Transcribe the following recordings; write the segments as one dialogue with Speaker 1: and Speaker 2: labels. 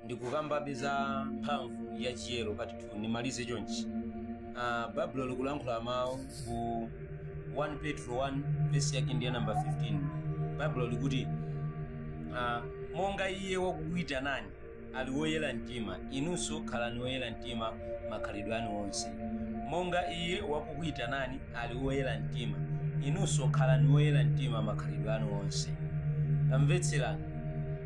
Speaker 1: ndikukambabe za mphamvu ya chiyero part 2 nimalize chonchi baibulo likulankhula mawu ku 1 petro 1 verse yake ndi namba 15 baibulo likuti monga iye wakukuyitanani ali woyera mtima inunso khalani woyera mtima makhalidwe anu onse monga iye wakukuyitanani ali woyera mtima, inunso khalani woyera mtima makhalidwe anu onse. Tamvetserani.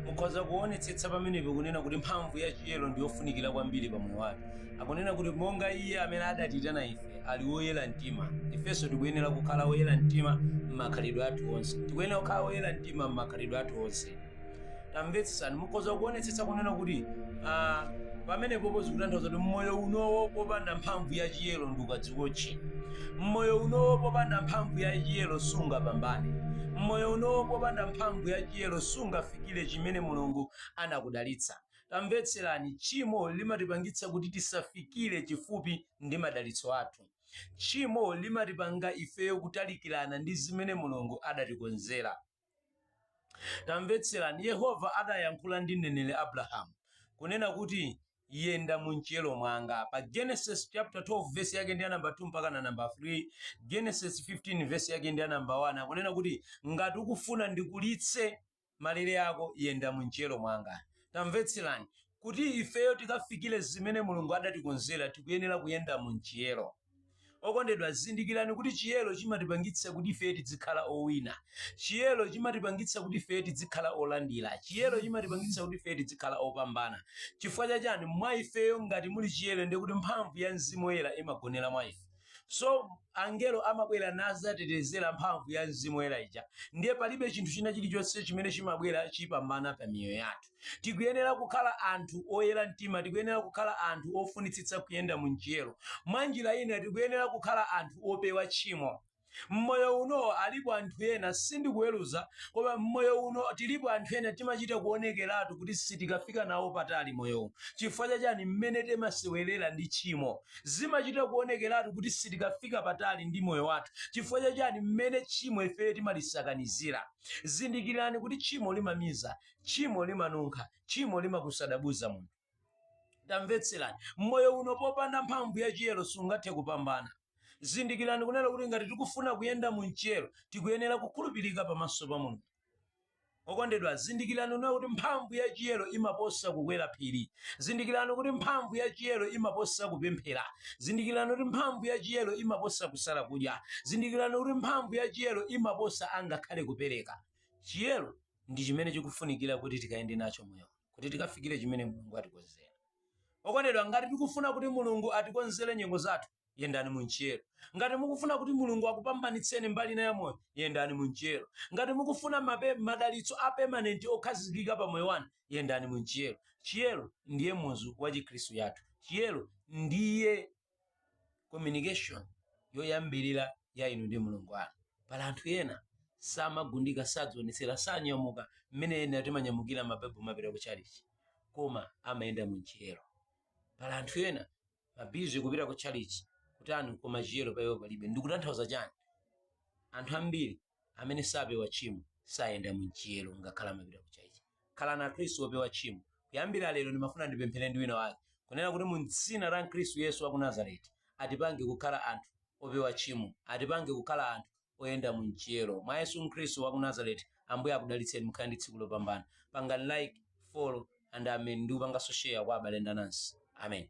Speaker 1: Mukhoza kuonetsetsa pamenepo kunena kuti mphamvu ya chiyero ndi yofunikira kwambiri pa moyo wathu. Akunena kuti monga iye amene adatiyitana ife ali woyera mtima, ifenso tikuyenera kukhala woyera mtima m'makhalidwe athu onse. Tikuyenera kukhala woyera mtima m'makhalidwe athu onse. tamvetsesani mukhoza kuonetsetsa kunena kuti ah, pamenepopo zikutanthauza kuti mmoyo unowo popanda mphamvu ya chiyero ndi ukadziwotche mmoyo unowo popanda mphamvu ya chiyero sungapambane mmoyo unowo popanda mphamvu ya chiyero sungafikire chimene mulungu anakudalitsa tamvetserani tchimo limatipangitsa kuti tisafikire chifupi ndi madalitso athu tchimo limatipanga ifeyo kutalikirana ndi zimene mulungu adatikonzera tamvetserani yehova adayankhula ndi mneneri abrahamu kunena kuti yenda mu mchiyero mwanga pa genesis chapter 12 verse yake ndi namba 2 mpakana namba 3 genesis 15 verse yake ndi namba 1 akunena kuti ngati ukufuna ndikulitse malire ako yenda mu mchiyero mwanga tamvetserani kuti ifeyo tikafikire zimene mulungu adatikonzera tikuyenera kuyenda mu mchiyero Okondedwa, zindikirani kuti chiyero chimatipangitsa kuti ife tizikhala owina. Chiyero chimatipangitsa kuti ife tizikhala olandira. Chiyero chimatipangitsa kuti ife tizikhala opambana. Chifukwa cha chani? Mwa ifeyo ngati muli chiyero ndiye kuti mphamvu ya Mzimu Woyera imagonera mwa ife. So, angelo amabwera nazatetezera mphamvu ya Mzimu Woyera ija. Ndiye palibe chinthu china chilichonse chimene chimabwera chipambana pa miyoyo yathu. Tikuyenera kukhala anthu oyera mtima, tikuyenera kukhala anthu ofunitsitsa kuyenda mu mchiyero. Mwanjira ina, tikuyenera kukhala anthu opewa tchimo. M'moyo uno, alipo anthu ena, sindikuweruza, koma m'moyo uno tilipo anthu ena timachita kuonekeratu kuti sitikafika nawo patali moyowu. Chifukwa cha chani? M'mene timasewerera ndi tchimo. Zimachita kuonekeratu kuti sitikafika patali ndi moyo wathu. Chifukwa cha chani? M'mene tchimo ife timalisakanizira. Zindikirani kuti tchimo limamiza. tchimo limanunkha tchimo limakusadabuzsa munthu tamvetserani mmoyo uno popanda mphamvu ya chiyero sungathe kupambana zindikirani kunena kuti ngati tikufuna kuyenda mu mchiyero tikuyenera kukhulupirika pamaso pa mulungu okondedwa zindikirani kunena kuti mphamvu ya chiyero imaposa kukwera phiri zindikirani kuti mphamvu ya chiyero imaposa kupemphera zindikirani kuti mphamvu ya chiyero imaposa kusala kudya zindikirani kuti mphamvu ya chiyero imaposa angakhale kupereka ndi chimene chikufunikira kuti tikayende nacho moyo uno, kuti tikafikire chimene mulungu atikonzera okondedwa ngati tikufuna kuti mulungu atikonzere nyengo zathu yendani munchiyero ngati mukufuna kuti mulungu akupambanitseni mbali ina ya moyo yendani munchiyero ngati mukufuna mape, madalitso a permanent okhazikika pa moyo wanu yendani munchiyero chiyero ndiye muzu wa chikhristu chathu chiyero ndiye communication yoyambirira ya inu ndi mulungu wanu pali anthu ena samagundika sadzionetsera sanyamula mmene ena timanyamulira mabaibulo kumapita ku chalichi koma amayenda munchiyero pali anthu ena ma busy kupita ku chalichi kutani koma chiyero paiwo palibe ndikutanthauza chani anthu ambiri amene sapewa tchimo sayenda mumchiyero ngakhale amapita ku chalichi khalani akhristu opewa tchimo kuyambira lero ndimafuna ndipemphere ndi wina wake kunena kuti mu dzina la khristu yesu wa ku nazareti atipange kukhala anthu opewa tchimo atipange kukhala anthu oyenda mumchiyero mwa yesu khristu wa ku nazareti ambuye akudalitseni mukhale ndi tsiku lopambana pangani like follow and amen ndi kupanganso share kwa abale ndi anansi amen